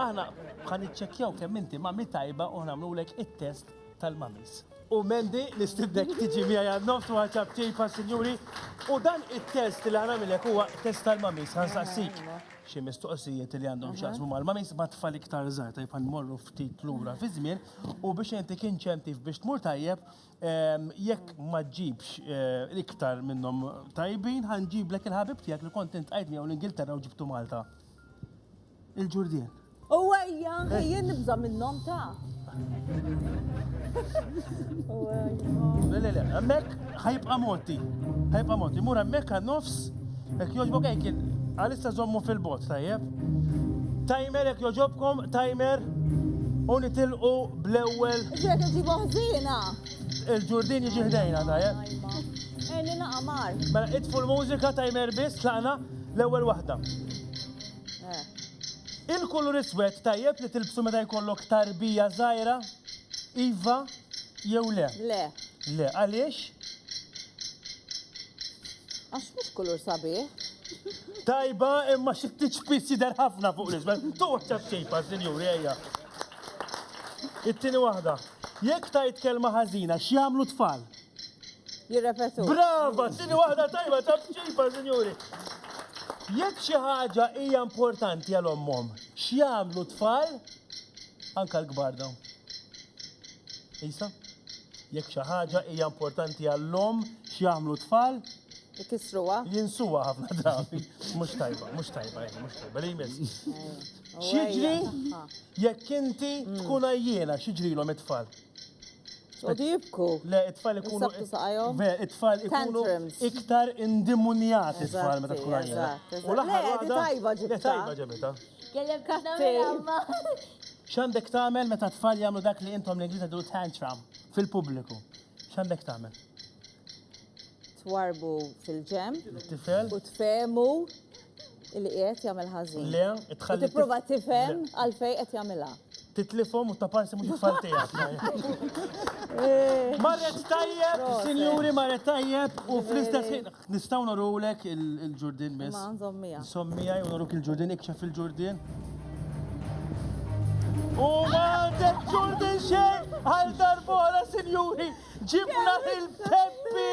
Aħna ħan iċċekkjaw kemm inti mami tajba u nagħmlulek it-test tal-mamis. U Mendi li stibdek tiġi miegħi għan-nofs u ħaġab ċejpa sinjuri. U dan it-test li ħanamilek huwa test tal-mamis ħansaqsik xi mistoqsijiet li għandhom x'jaqsmu mal-mamis ma tfal iktar żgħar tajb morru ftit lura fi żmien u biex inti kien ċentif biex tmur tajjeb ehm, jekk ma ġibx eh, iktar minnhom tajbin ħanġiblek il-ħabib tiegħek li kont int qajt miegħu l-Ingilterra u ġibtu Malta. Il-ġurdien. U għajja, jien nibża minnom ta' Le, le, le, emmek ħajbqa moti. ħajbqa moti. Mur emmek għan nofs, ek joġbok ek għalissa zommu fil-bot, tajjeb. Timer ek joġobkom, timer, u nitilqu bl-ewel. Ġek ġibu ħzina. Il-ġurdin jiġi ħdejna, tajjeb. Eni naqamar. Mela, itfu l-mużika, timer bis, tlaqna, l-ewel wahda. Il-kulur iswed tajjeb li tilbsu meta jkollok tarbija żgħira? Iva jew le? Le. Le, għaliex? Għax mhux kulur sabiħ. Tajba, imma xi tiċpis jidher ħafna fuq l-iswed. Toħċa xejpa, sinjuri, ejja. It-tieni waħda. Jekk tajt kelma ħażina, x'jagħmlu tfal? jirrepetu. Brava, tini waħda tajba ta' bċipa, sinjuri. Jekk xi ħaġa hija importanti għal ommhom, x'jagħmlu tfal anka l-kbar dawn. Isa, jekk xi ħaġa hija importanti għall-om x'jagħmlu tfal, Ikisruha. jinsuha ħafna drabi. Mhux tajba, mhux tajba, eh, mhux tajba, li jmiss. X'jiġri jekk inti tkun għajjiena, x'jiġrilhom it-tfal? Għodu jibku. Le, it-tfal ikunu. Ve, it-tfal ikunu iktar indimunjati it-tfal meta tkun għajjena. U l-aħħar. Le, tajba ġibta. Tajba ġibta. Kellem kattiva. X'għandek tagħmel meta t-tfal jagħmlu dak li intom l-Ingliżi du tantrum fil-pubbliku? X'għandek tagħmel? twarbu fil-ġenb. Tifel. U tfehmu li qiegħed jagħmel ħażin. Le, tħalli. Tipprova tifhem għalfejn qed jagħmilha. Titlifhom u ta' parsi mhux tfal tiegħek. Eh. Marret tajjeb, sinjuri marret tajjeb u fl-istess ħin nistgħu norulek il-ġurdin biss. Ma' nżommija. Nżommija u noruk il-ġurdin ikxef il-ġurdin. U ma' ġurdin xejn għal darbora, sinjuri. Ġibna lil Peppi!